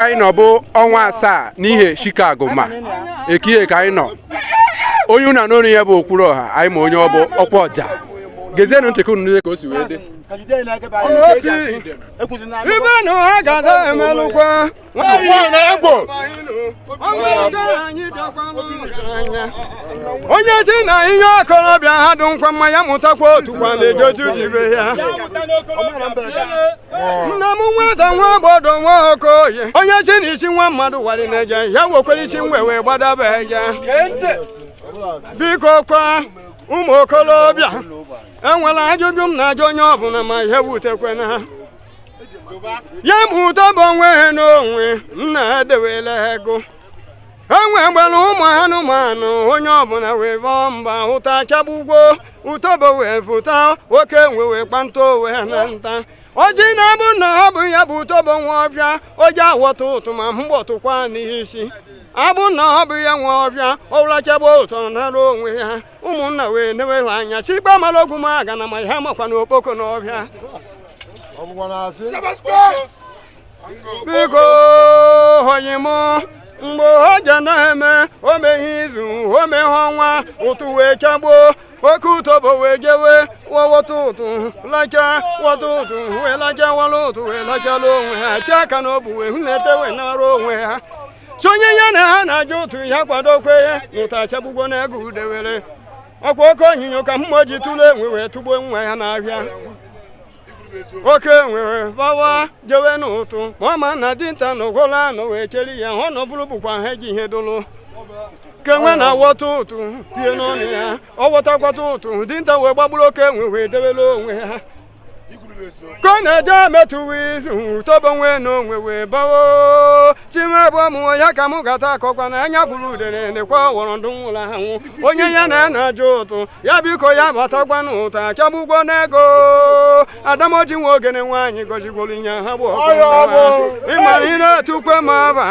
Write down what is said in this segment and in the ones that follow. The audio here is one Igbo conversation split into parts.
anyị nọ bụ ọnwa asaa n'ihe Chicago ma ekihe ka anyị nọ onye ụna n'ọnụ ya bụ okwuru ọha anyị ma onye ọ bụ ọkwa ọja gezienụ ntị ka unu niile ka o si wee dị ibe na ha ga-ada emelụkwa onye ji na ihe okorobịa ha dụ nkwa mma ya mụtakwa otu kwa na-ejoju jibe ya nna m nwata nwa obodo nwa okoye onye sị na isi nwa mmadụ wali na-eje ya wekwere isi enwe wee gbadaba eje biko kwa ụmụ okolobịa enwela ajụjụ m na-ajụ onye ọbụla ma ihe wutekwe na ha ya bụ utobo onwe ha n'onwe nna ha dewela ego enwe gbara ụmụ anụmanụ onye ọbụla wee bọọ mba ụtụ achagbugwo utobo wee fụta oke enwe wee kpanta owe na nta oji na-abụ na ọ bụ ya bụ utobo nwe ọhịa o je awọta ụtụ ma mgbọ tụkwa n'isi abụ na ọ bụ ya nwe ọhịa ọ lachaba ụtụ naara onwe ya ụmụnna wee newere anya chikpa mara ogwu ma aga na ma ha makwa na okpoko n'ọhịa biko onye m mgbe ọ ja na-eme o meghị izu o meghị ọnwa ụtụ wee chagbuo oke utobo wee jewe wọta ụtụ lacha wọta ụtụ wee lacha wala ụtụ wee lachala onwe ha chi aka na obu wee hụ na-ete wee naara onwe ha sị onye ya na ha na-ajụ ụtụ ya kwadokwa na ụtụ achagbugwo na ego udewere ọkwa oke onyinyo ka mgbọ ji tụrụ enwe wee tụgbuo nwa ya n'ahịa oke enwe wee bawa jewe n'ụtụ ma ọ ma na dinta nọgwolu anọ wee cheri ya ọ nọbụrụ bụkwa ha eji ihe dụlụ oke enwe na-awọta ụtụ tie n'ọnụ ya ọ wọtakwata ụtụ dinta wee gbagburu oke enwe wee debere onwe ya ka ọ na-eje metụwa izu utobo nwe na enwe wee bawo chimebụ ọmụnwa ya ka mụ gata akọkwa na anya fụrụ udene nekwa ọwọrọ ndụ nwụrụ anwụ onye ya na ana ajụ ụtụ ya biko ya batakwa na ụtụ achagbugwo n'ego adamoji nwa ogene nwaanyị gọzigworo ihe ha bụ ịmara ị na-etukwe ma aba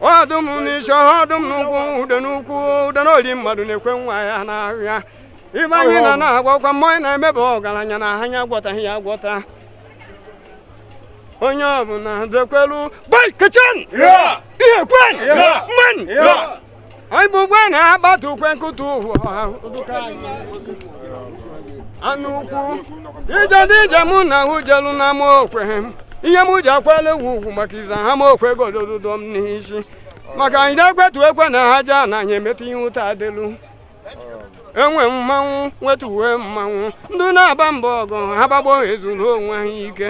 ọdụm n'isi ọdụm n'ụkwụ ude n'ukwu ude n'oli mmadụ na-ekwe nwa ya n'ahịa ibe anyị na na-agwakwa mmanya na-emebe ọgaranya na anya agwọtaghị ya agwọta onye ọbụla dekwelu boy kitchen ihe kwen mman anyị bụ ugbe na-agbata ukwe nkụta ụwa anụ ukwu ije ndị ije mụ na ahụ jelu na ama okwe ihe m ji akwala egwu ugwu maka iza ha ma okwe godododo m n'isi maka anyị na-ekwetu ekwe na ha jaa na anyị emeta ihe ụta adịlu enwe mmanwụ nweta uwe mmanwụ ndị na-aba mba ọgụ ha gbagbo ezuru onwe ha ike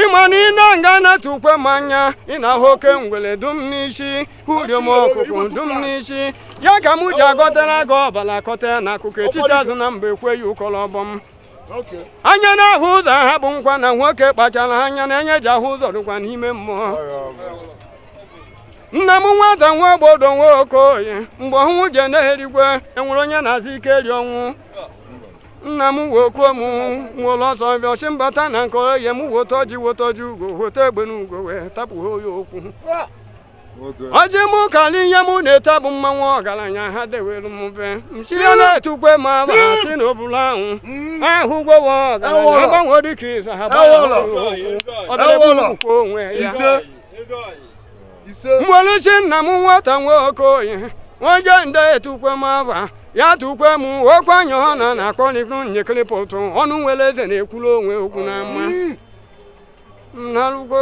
ịma na ị na-aga na-atụkwe m anya ị na-ahụ oke ngwele dụ m n'isi uriom ọkụkụ dụ m n'isi ya ka m ji agọtara gị ọbala kọta na akụkụ etiti azụ na mba ekweghị ụkọrọ ọbọ m anya na-ahụ ụzọ ha bụ nkwa na nwoke kpachara anya na enya eji ahụ ụzọ dịkwa n'ime mmụọ nna m nwata nwa obodo nwa Okoye mgbe ọnwụ je na-erigwe enwere onye na-azụ ike eri ọnwụ nna m wokuo m were ọsọ bịa ọchị mbata na nke oye m woto ji woto ji ugo woto egbe na ugo wee tapụ ha oyi okwu ọjị mụ kali ihe mụ na-ete bụ mmanwụ ọgaranya ha dewere m mfe mchire na-etukwe m aba ti na obula ahụ ahụ gwowo ọgaranya agbanwe dịka ịza ha gbanwe okwu ọbịa bụ onwe ya mweluchi nna m nwata nwa Okoye nwoje nde etukwe m aba ya tukwe m okwe anya ọ na na-akpọ n'ikwu nyekịrịpụ ụtụ ọnụ nwere eze na-ekwuru onwe okwu na mma nnalugo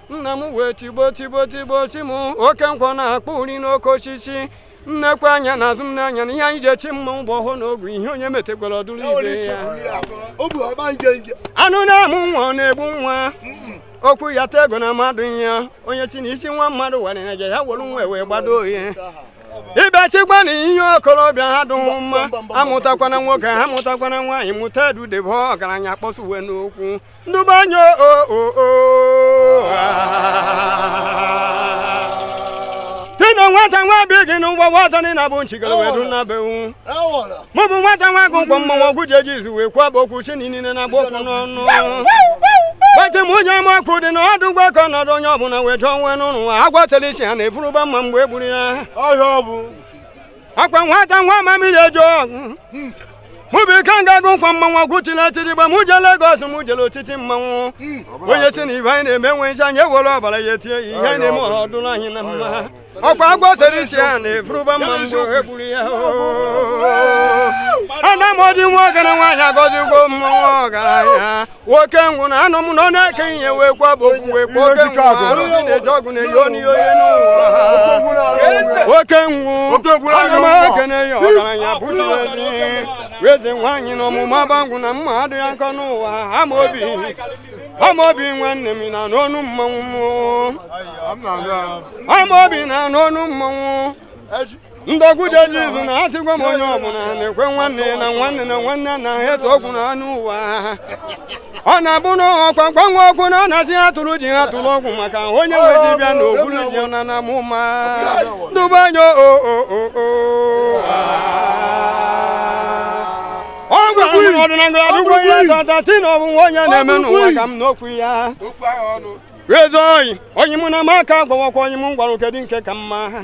nna m wee tigbo tigbo tigbo chi m oke nkwọ na-akpọ uri n'oke osisi nnekwe anya na azụ m n'anya na ihe anyị ji echi mmanwụ bụ ọhọ na ogu ihe onye metekwara ọ dụrụ ibe ya anụ na-amụ nwa ọ na-egbu nwa okwu ya ta ego na mmadụ ya onye chi na isi nwa mmadụ warịra ja ya were nwa wee gbado oyi ịbịachikwa na ihe okorobịa ha dụghị mma amụtakwana nwoke ha mụtakwana nwaanyị mụta edudebe ọgaranya kpọsụwe n'okwu ndụbanye o o o tena nwata nwa bi gị n'ụgbọ nwata nị na-abụ nchigara wee dụ na bewu mụ bụ nwata nwa agụ nkwọ mmanwụ ọgwụ ji eji izu wee kwaba okwu si na inine na agba okwu n'ọnụ gbati m onye ama ọkụ dị na ọdụ ụgbọ ka ọnọdụ onye ọbụla wee jụọ nwe n'ụlọ agwatara isi ha na-efuruba mma mgbe e gburu ya ọhịa ọ bụ akwa nwata nwa amamihe ejo mụ bụ ikenga agụ nkwa mmanwụ kuchila atịrị igba mụ jee Lagos mụ jere otiti mmanwụ onye si na ihe anyị na-eme nwe nche anyị ewere ọbara ya etinye ya ihe anyị na-eme ọ dụrụ anyị na mma ọkwa agwọ sere isi a na-efuruba mma mgbe e gburu ya ana m ọdị nwa ọgara nwaanyị agọzi ụgwọ mmanwụ ọgaranya nwoke ngwụ na anụ m na ọ na-eke ihe wee kwaba okwu wee kwa oke ngwụ arụsị na-eji ọgwụ na-eyi onye onye n'ụwa oke ngwụ ana m ekene ya ọgaranya bụchiri ezi eze nwaanyị na ọmụma bangwụ na mma adịghị akọ n'ụwa ama obi ama obi nwanne m na n'ọnụ mmanwụ ama obi na n'ọnụ mmanwụ ndị ọgwụ ji eji izu na asịgwa m onye ọbụla na-ekwe nwanne na nwanne na nwanne na ha etu ọgwụ na anụ ụwa ọ na-abụ na ọkwa mgbanwe okwu na ọ na-asị ha tụrụ ji ha tụrụ ọgwụ maka onye nwe dibịa na ogbulu ji na na mụ ma ndụbe anya o o o o ọ gwara m n'ọdịnala adụgwo ihe tata ti na ọbụ nwa onye na-eme n'ụwa ka m n'okwu ya eze oyi onye mụ na m aka gwawakwa onye m gwara kedu nke ka mma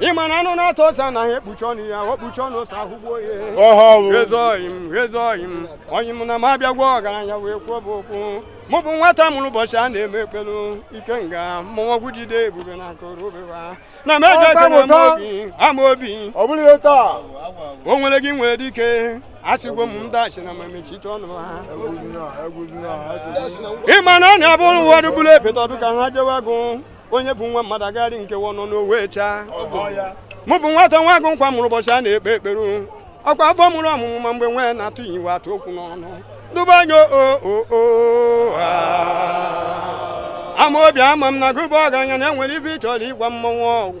ị ma na anụ na-ata ose anaghị ekpuchi ọnụ ya ọ kpuchi ọnụ ose ahụgbuo ya Ọha ọwụ. eze oyi m eze oyi m onye m na m abịagwa ọgaranya wee kwuo bụ okwu mụ bụ nwata mụrụ ụbọchị a na-eme ekpelu Ikenga mmọnwụ ọgwụ jide ebube na nkoro obewa na m eje ekele m obi Amaobi Ọ bụrụ ihe taa. o nwere gị nwere dike asịgwo m ndị asị na ma mechite ọnụ ha Egwuzina, egwuzina, asị. ịma na ọ na-abụrụ ụfọdụ bụrụ epeta ọdụ ka ha jewe agụ onye bụ nwa mmadụ agagharị nkewa ọnụ n'owe chaa mụ bụ nwata nwa agụ nkwa mụrụ ụbọchị a na-ekpe ekpere ọkwa afọ mụrụ ọmụmụ ma mgbe nwee na-atụ iwe atụ okwu n'ọnụ dube anya Amaobi ama m na gụba ọgaranya na enwere ive ị chọrọ ịgwa mmọnwụ ọgwụ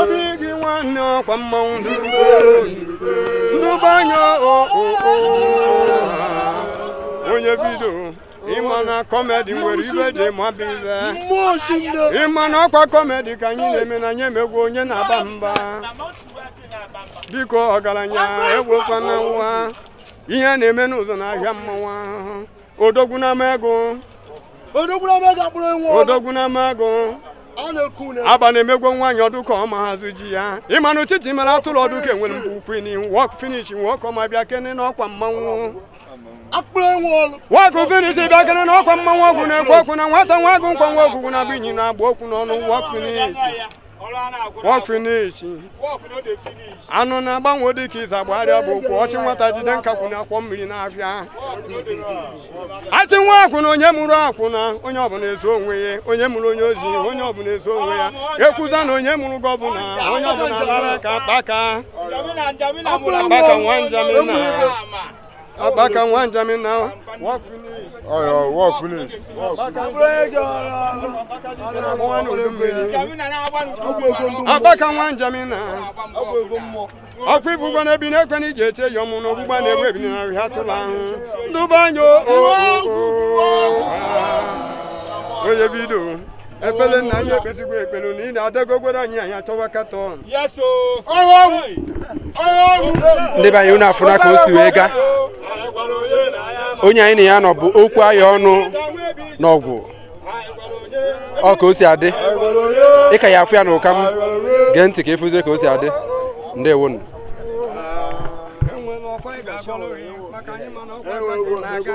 obi gị nwanne ọkwa mmanwụ ndụbe anya onye bido ịma na kọmedi nwere ibe ji mabụ ibe ịma na ọkwa kọmedi ka anyị na-eme na anyị emegwu onye na-aba mba biko ọgaranya egwekwana nwa ihe na-eme n'ụzọ n'ahịa mmanwụ a odogwu n'ama ego odogwu n'ama ego akpụrụ nwa odogwu n'ama ego aba na-emegwo nwaanyị ọ dụ ka ọ ma hazụ ji ya ịma na uchichi mere atụrụ ọ dụ ka enwere mgbe ukwu ini work finish nwoke ọma bịa kene n'ọkwa mmanwụ work finish bịa kene n'ọkwa mmanwụ ọgwụ na-ekwu okwu na nwata nwa agụ nkwa nwa ogwugwu na-abụ inyi na-agba okwu n'ọnụ work finish work finish anụ na-agbanwe dị ka ize agbagharịa bụ okwu ọchị nwata jide nkakwu na akwọ mmiri na-afịa asị nwa akwụna onye mụrụ akwụna onye ọbụla ezo onwe ya onye mụrụ onye ozi onye ọbụla ezo onwe ya ekwuza na onye mụrụ gọvanọ onye ọbụla lara ka Akpaka Akpaka nwa Njamina Akpaka nwa Njamina work finish. Ọyọ work finish. Akpaka nwa Njamina ọkwa ibugbo na ebi na-ekwe na iji eche ya ọmụ na ogbugba na-egbu ebi na ahụ atụla ahụ ndụba anya onye bido ekpere nna anyị ekpesigwo ekpere na ị na-adagogwere anyị anyị achọwa katọn ndị be anyị unu afụna ka o si wee gaa onye anyị na ya nọ bụ okwu ahịa ọnụ na ọgwụ ọ ka o si adị ị ka ya-afụ ya na ụka m gee ntị ka ị fụzie ka o si adị ndewonu e nwere ọfọ anyị ga-agọrọ gị maka anyị mana ọkwa anyị na-aga